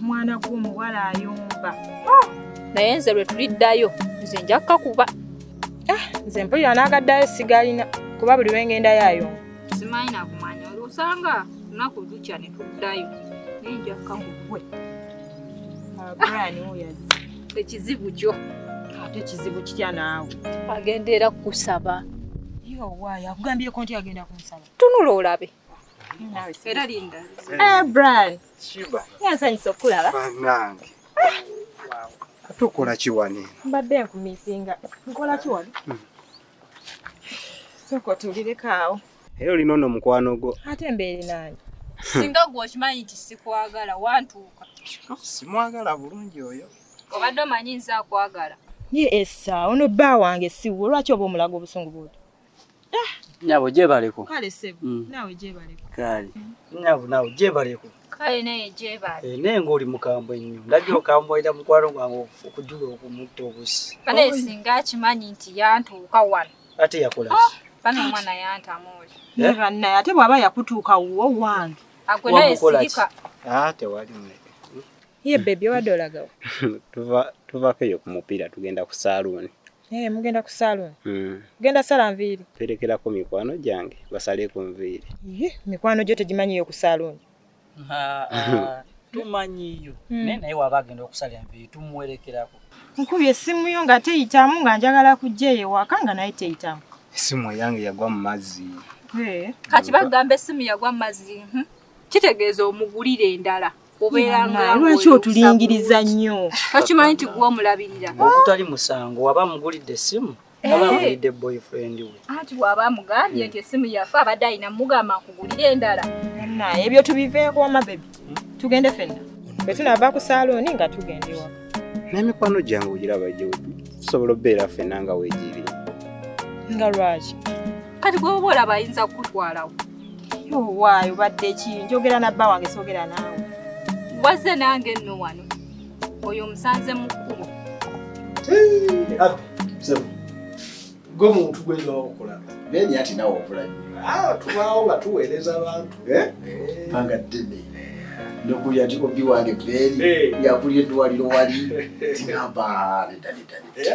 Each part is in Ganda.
mwana gw'omuwala ayomba oh! naye nze lwe tuliddayo nze nja kukakuba ah, nze mpulira n'agaddayo sigalina kuba buli lwe ngendayo ayomba simanyi nakumanya osanga lunaku lukya ne tuddayo naye nja kukakuba ekizibu kyo ate ekizibu kitya naawe agenda era kukusaba owaayo akugambyeko nti agenda kunsaba tunula olabe era linda eh, bran yansanyisa okukulaba banange tukola kiwane mbadde nkumisinga nkola kiwane hmm. sooka otulireko awo era olina ono mukwano gwo ate mbeere nange singa gwe okimanyi nti sikwagala wantuuka simwagala bulungi oyo obadde omanyi nze akwagala ye esa ono bba wange siwo lwaki oba omulaga obusungu bwoto nyabo gyebaleko kale sebo mm. nawe gyebaleko kale nyabo nawe gyebaleko kale naye gyebaali eh, naye ng'oli mukambwe nnyo ndabye hmm? okamboira mukwano gwange okujula okumutta obusi kale singa akimanyi nti yantuuka wano ate yakola ah, bana omwana yantamu oli eh? bannaye ate bw'aba yakutuuka wuwo wange agwe naye sirika ah, tewali mune hmm? ye bebi obadde olagawo tuvako eyo ku mupiira tugenda ku saaluuni Hey, eh, mugenda ku salon mm. genda sala nviiri perekerako mikwano gyange basale ku nviiri ye mikwano gyo tegimanyiyo ku salon tumanyiyo mm. naye naye waba agenda okusala enviiri tumuwerekerako nkubi essimu yo nga teyitamu nga njagala kujja eyo ewaka nga naye teyitamu essimu eyange yagwa mu mazzi eh. kati bagamba essimu yagwa mu mazzi mhm. kitegeeza omugulire endala lwaki otulingiriza nnyo tokimanyi nti gwe omulabirira ogutali musango waba mugulidde essimu eh. aba mugulidde boyfriend we anti waba mugambye nti essimu yafe abadde alina mugamba nkugulire endala naye ebyo tubiveeko wama bebi hmm? tugende fenna bwe tunava ku saalooni nga tugenda ewaka n'emikwano gyange ogiraba gye tusobola obeera fenna nga wegiiri nga lwaki kati gwoba olaba ayinza kukutwalawo waayo badde ki njogera na bba wange soogera naawe wazze nange nno wano oyo omusanze mu kkubo gwe muntu gweza wakukola beni ati nawe okula nnyo ah, tubaawo nga tuweereza abantu eh? Eh. banga ddene nokuya nti obi wange beni yakulya eddwaliro wali tinamba nedda nedda nedda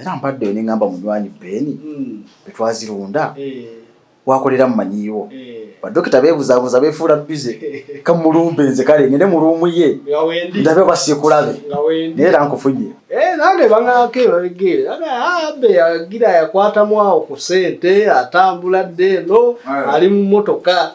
era mpadde ne ngamba munywanyi Ben mm. betwazirunda eh. wakolera mumanyiiwo eh. badokita bebuzabuza befuula bize kamulumbe nze kale ngende mu luumu ye ndabe oba sikulabe naye era nkufunye eh, nange bangako ebabigere ah, abe yagira yakwatamu awo ku sente atambula dde eno ali mu motoka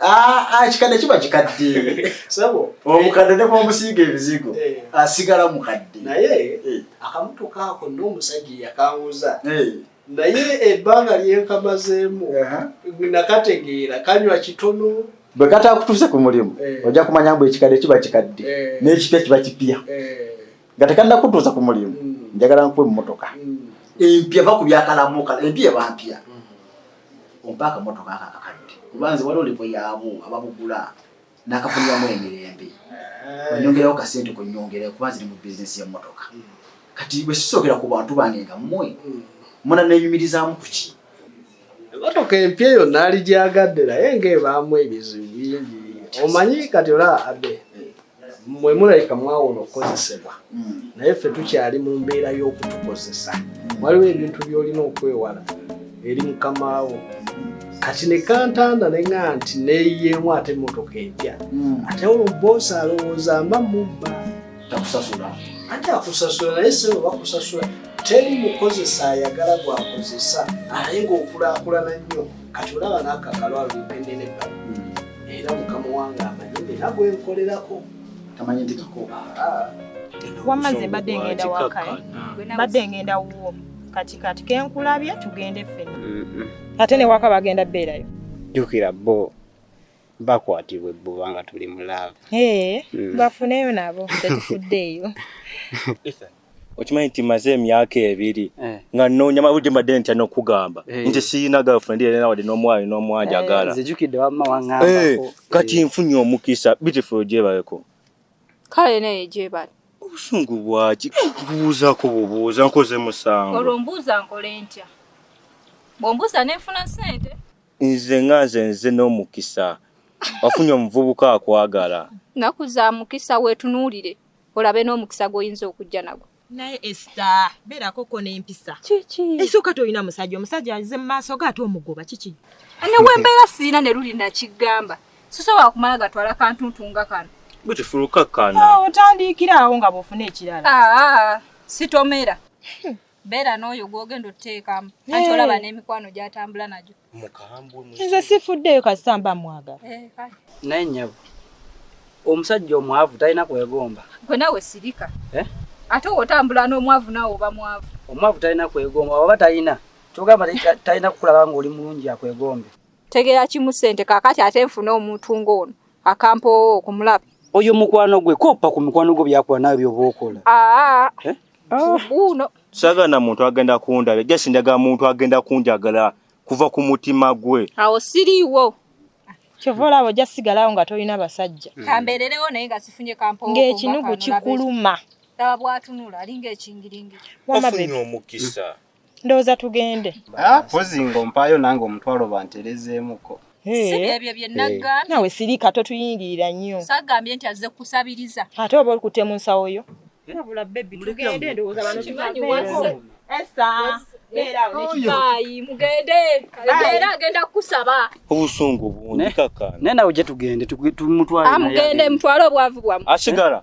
Ah, ah, kikadde kiba kikadde omukadde ne bwomusiiga ebizigo eh. asigala mukadde naye eh. akamuto kaako n'omusajja yakanguza eh. naye ebbanga lyenkamazeemu nakategeera kanywa kitono bwe katakutuuse ku mulimu ojja kumanya mbu ekikadde kiba kikadde n'ekipya kiba kipya nga tekannakutuusa ku mulimu mm. njagala nkuwa emmotoka mm. empya va ku byakalamuka empya ebampya ompa akamotoka ako akakadde kuba nze waliwo levo yaabo ababugula nakafuniramu emirembe eh. onyongerawo kasente kunyongera kuba nziri mu bizinesi yemotoka hmm. kati bwe sisookera ku bantu bange nga mmwe hmm. muna nenyumirizaamu kuki emotoka empya eyo naali gyagadde naye ngaebaamu ebizibu bingi omanyi kati olaba abe mwe mulabika mwawona okukozesebwa hmm. naye ffe tukyali mu mbeera y'okutukozesa hmm. waliwo ebintu by'olina okwewala eri mukamaawo kati ne kantanda ne nga nti neyiyeemu ate emmotoka empya hmm. ate olwo boosi alowooza mba mubba takusasula ate akusasula naye sebo bakusasula teri mukozesa ayagala gwakozesa alaye ngaokulakulana nnyo kati olaba nakakalo alukendedeka hmm. era mukama wange amanyi era gwenkolerako tamanyi nti kakoba ah. wamaze mbadde ngenda wakae mbadde ngenda wuwo kati kati kenkulabye tugende ffena ate newaka bagenda beerayo jukira bo bakwatibwa ebbuba nga tuli mu laavu eh, hmm. bafuneyo nabo tetufuddeeyo okimanyi nti maze emyaka ebiri eh. nga nonya mabudde mbadde ntya nokugamba eh. nti siyina girlfriend era nawadde n'omwali n'omwanja eh, agala kati nfunye omukisa beautiful gyebaleko kale naye gyebali obusungu bwaki kubuuzako bubuuza nkoze musango olwo mbuuza nkole ntya bwombuuza nenfuna sente nze nga nze nze n'omukisa wafunye omuvubuka akwagala naku za mukisa wetunuulire olabe n'omukisa gw'oyinza okujja nagwo naye esta beerako ko n'empisa kiki esooka tolina musajja omusajja aze mu maaso ge ate omugoba kiki ne wembeera siina ne luli nakigamba sisobola kumala gatwala kantuntu nga kano bwekifulukakkana ah, otandiikira awo nga bwofuna ekirala ah, ah, sitomera hmm. beera n'oyo gwogenda oteekamu anti olaba n'emikwano gyatambula nagyo nze sifuddeyo kasita mba mwagala eh, naye nyabo omusajja omwavu talina kwegomba gwe nawe sirika eh? ate wotambula n'omwavu nawe oba mwavu omwavu talina kwegomba oba talina kyogamba talina kukulaba ngaoli mulungi akwegombe tegera kimu sente kakati ate nfuna omuntu ng'ono akampoowo okumulaba oyo mukwano gwe koppa ku mikwano gwo byakola nawe byoba okola aa ah, ah. eh? Ah. buuno saga na muntu agenda kundaba just ndaga muntu agenda kunjagala kuva ku mutima gwe awo siriiwo kyova olaba ojja sigalawo nga tolina basajja mm. kambeererewo naye nga sifunye kampo ng'ekinugu kikuluma laba bwatunula alinga ekingiringi wafunye omukisa ndowooza tugende ah, pozi nga ompaayo nange omutwalo banterezeemuko sibyebyo byenagga eh. nawe sirika totuyingirira nnyo sagambye nti azze kukusabiriza ate oba olikutte mu nsawo yo abula bebi tugende ndowooza bano tumanyi wese esa obusungu bungi kakana naye nawe gye tugende tumutwale amugende ah, mutwale obwavu bwamu asigala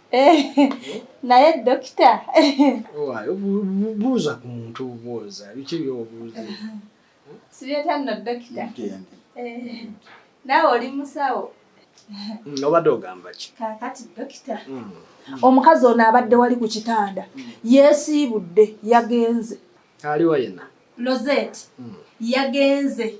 naye dokita buuza ku muntu obubuuza biki byobuuza sibyeta nno dokita naawe oli musawo mm, obadde ogamba ki kakati dokita mm. omukazi ono abadde wali ku kitanda mm. yesiibudde yagenze aliwa yena lozet yagenze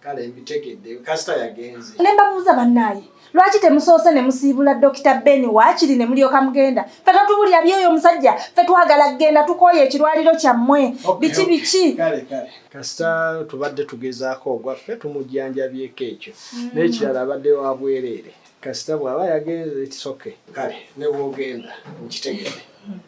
kale mbitegedde kasita yagenze ne mbabuuza bannaaye lwaki temusoose ne musiibula dokita ben waakiri ne mulyoka mugenda fe totubulira byoyo omusajja fe twagala kugenda tukooye ekirwaliro kyammwe biki biki kasita tubadde tugezaako ogwaffe tumujjanjabyeko ekyo mm. n'ekirala abadde wa bwereere kasita bw'aba yagenze kisoke kale ne bwogenda nkitegedde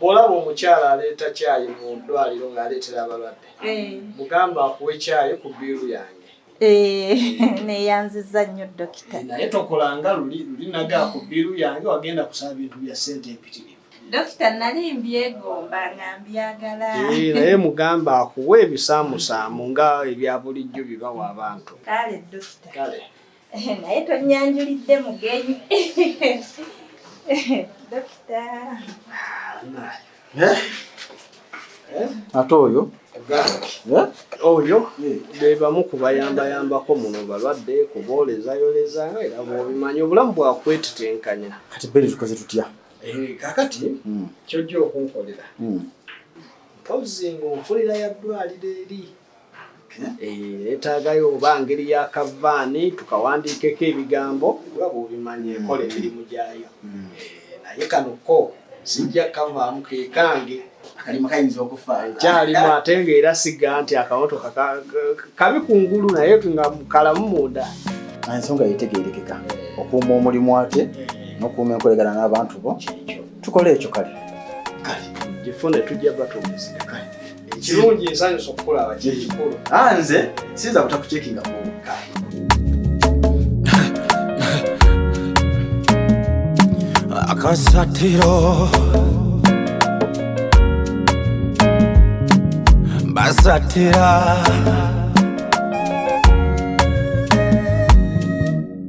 Bw'olaba omukyala aleeta caayi mu ddwaliro ng'aleetera abalwadde, eh. mugamba akuwe caayi ku bbiiru yange. Eh, neyanziza nnyo dokita. Eh, naye tokola nga luli luli naga ku bbiiru yange wagenda kusaba bintu bya ssente empitirivu. Dokita nali mbyegomba nga mbyagala. Naye mugamba akuwe ebisaamusaamu nga ebya bulijjo bibawa abantu. Kale dokita. Kale. naye tonyanjulidde mugenyi dokita eh? Eh? ate oyo eh? oyo bebamu kubayambayambako muno balwadde kuboolezayoleza era bwobimanyi obulamu bwakwetitenkanya kati beri tukoze tutya kakati hmm. kyojja okunkolera hmm. mpozi ngaokolera yaddwaliro eri Eh, yetaagayo oba ngeri ya kavaani tukawandiikeko ebigambo nga bwobimanyi ekola emirimu gyayo mm. eh, naye kano ko sijja kavaamu kekange akalimu kayinza okufa kyalimu ate nga era siga nti akamotoka kabi ku ngulu naye nga kalamu munda ensonga yetegerekeka okuuma omulimu ate nokuuma enkolegana n'abantu bo tukole ekyo kale kale gifone tujja batumusika kale ekirungi nsanyusa okukulaba kyekikulu ah, nze siyinza kutakucekinga mu kale akasatiro basatira